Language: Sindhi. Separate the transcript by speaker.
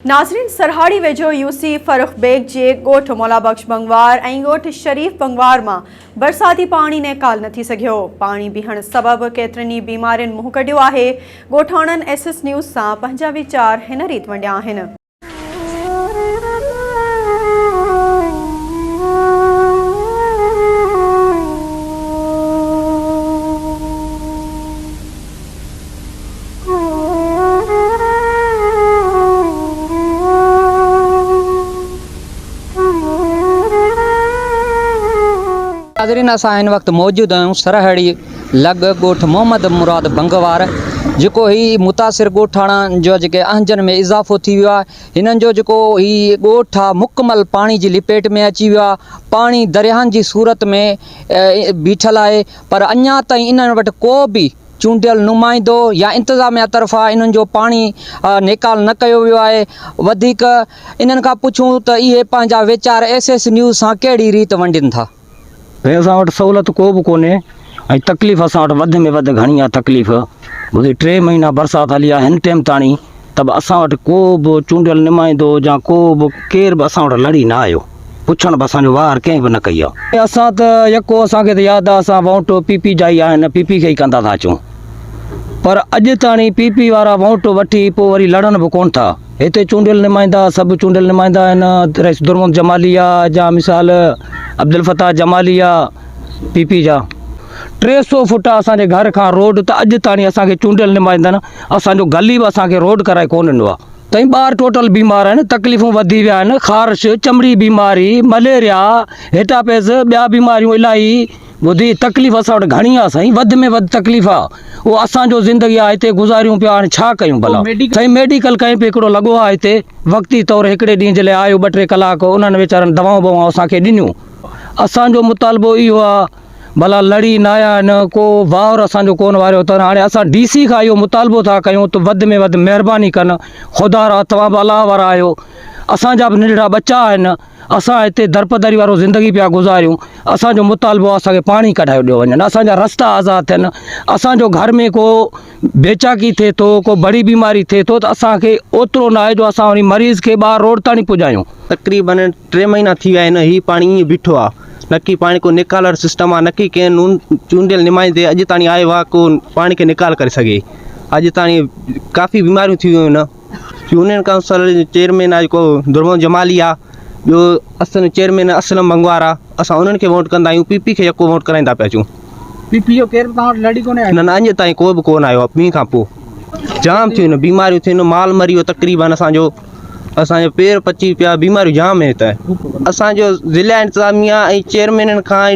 Speaker 1: ناظرين! سرهاڙي ويجهو يوسي فرخ بيگ جي ڳوٺ مولا بخش بنگوار ۽ ڳوٺ شريف بنگوار مان برساتي پاڻي نيڪال نه ٿي سگهيو، پاڻي بيهڻ سبب ڪيترين ئي بيمارين منهن ڪڍيو آهي، ڳوٺاڻن ايس ايس نيوز سان پنهنجا ويچار هن ريت ونڊيا آهن.
Speaker 2: ناظرين اسان هن وقت موجود آهيون سرهڙي لڳ ڳوٺ محمد مراد بنگوار جيڪو هي متاثر ڳوٺاڻا جو جيڪي اهنجن ۾ اضافو ٿي ويو آهي هنن جو جيڪو هي ڳوٺ آهي مڪمل پاڻي جي لپيٽ ۾ اچي ويو آهي پاڻي درياهن جي صورت ۾ بيٺل آهي پر اڃا تائين انهن وٽ ڪو به چونڊيل نمائندو يا انتظاميا طرفان انهن جو پاڻي نيڪال نه ڪيو ويو آهي، وڌيڪ انهن کان پڇون ته اهي پنهنجا ويچار ايس ايس نيوز سان ڪهڙي ريت ونڊين ٿا. ڀئي اسان وٽ
Speaker 3: سهولت ڪو به ڪونهي ۽ تڪليف اسان وٽ وڌ ۾ وڌ گهڻي آهي تڪليف ڀلي ٽي مهينا برسات هلي آهي هن ٽيم تاڻي. ته به اسان وٽ ڪو به چونڊيل نمائندو يا ڪو به ڪير به اسان وٽ لڙي نه آيو، پڇڻ به اسان جو وار ڪنهن به نه ڪئي آ. اسان ته يڪو اسان کي ته ياد آ اسان وونٽ پي پي جا ئي آهن، پي پي کي ئي ڪندا ٿا اچون، پر اڄ تاڻي پي پي وارا وونٽ وٺي پوء وري لڙن به ڪونه ٿا. هتي چونڊيل نمائندا سڀ چونڊيل نمائندا آهن، رئيس درمد جمالي آ يا مثال عبدالفتاح جمالي آ پي پي جا. ٽي سؤ فوٽا اسان جي گهر کان روڊ ته اڄ تاڻي اسان کي چونڊيل نمائندن، اسان جو گلي به اسان کي روڊ ڪرائي ڪو ڏنو آ. تائين ٻار ٽوٽل بيمار آهن تڪليفون وڌي ويا آهن خارش چمڙي بيماري مليريا هيٽاپيز ٻيا بيماريون الاهي ٻڌي تڪليف اسان وٽ گهڻي آ سائين وڌ ۾ وڌ تڪليف آ او اسان جو زندگي آ هتي گذاريون پيا هاڻي ڇا ڪيون ڀلا سائين ميڊيڪل ڪئين پي هڪڙو لڳو آ هتي وقتي طور هڪڙي ڏينهن جي لاء آيو ٻه ٽي ڪلاڪ انهن ويچارن دوائون بوائون اسان کي ڏنيون اسان جو مطالبو اهو آ ڀلا لڙي نه آيا آهن، ڪو وائور اسان جو ڪونه واريو اٿن، هاڻي اسان ڊي سي کان اهو مطالبو ٿا ڪيون ته وڌ ۾ وڌ مهرباني ڪن، خدا را توهان به الله وارا آهيو، اسان جا به ننڍڙا ٻچا آهن، اسان هتي درپدري وارو زندگي پيا گذاريون، اسان جو مطالبو آهي اسان کي پاڻي ڪڍايو ڏيو وڃن، اسان جا رستا آزاد ٿين، اسان جو گهر ۾ ڪو بيچاڪي ٿئي ٿو، ڪو بڙي بيماري ٿئي ٿو ته اسان کي اوترو ناهي جو اسان انهي مريض کي ٻاهر روڊ تائڻي پڄايون. تقريباً ٽي
Speaker 4: مهينا ٿي ويا آهن هي پاڻي ائين بيٺو آ نڪي پاڻي ڪو نيڪال وارو سسٽم آ نڪي ڪنهن نون چونڊيل نمائندي اڄ تاڻي آيو آ ڪو پاڻي کي نيڪال ڪري سگهي اڄ تاڻي ڪافي بيماريون ٿي ويون آهن. يونين ڪائونسل جو چيئرمين آهي جيڪو درمن جمالي آ ٻيو اسن چيئرمين اسلم منگوار آ اسان انهن کي ووٽ ڪندا آهيون پي پي کي يڪو ووٽ ڪرائيندا پيا اچون پي پي جو ڪير
Speaker 3: به توهان وٽ لڙي ڪونه آيو نه نه اڃ تائين ڪو به
Speaker 4: ڪونه آيو آ مينهن کان پو جام ٿيون آهن بيماريون ٿيون آهن مال مري ويو تقريبن اسان جو اسان جو پير پچي پيا بيماريون جام آهن هتي اسان جو ضلع انتظاميا ۽ چيئرمينن کان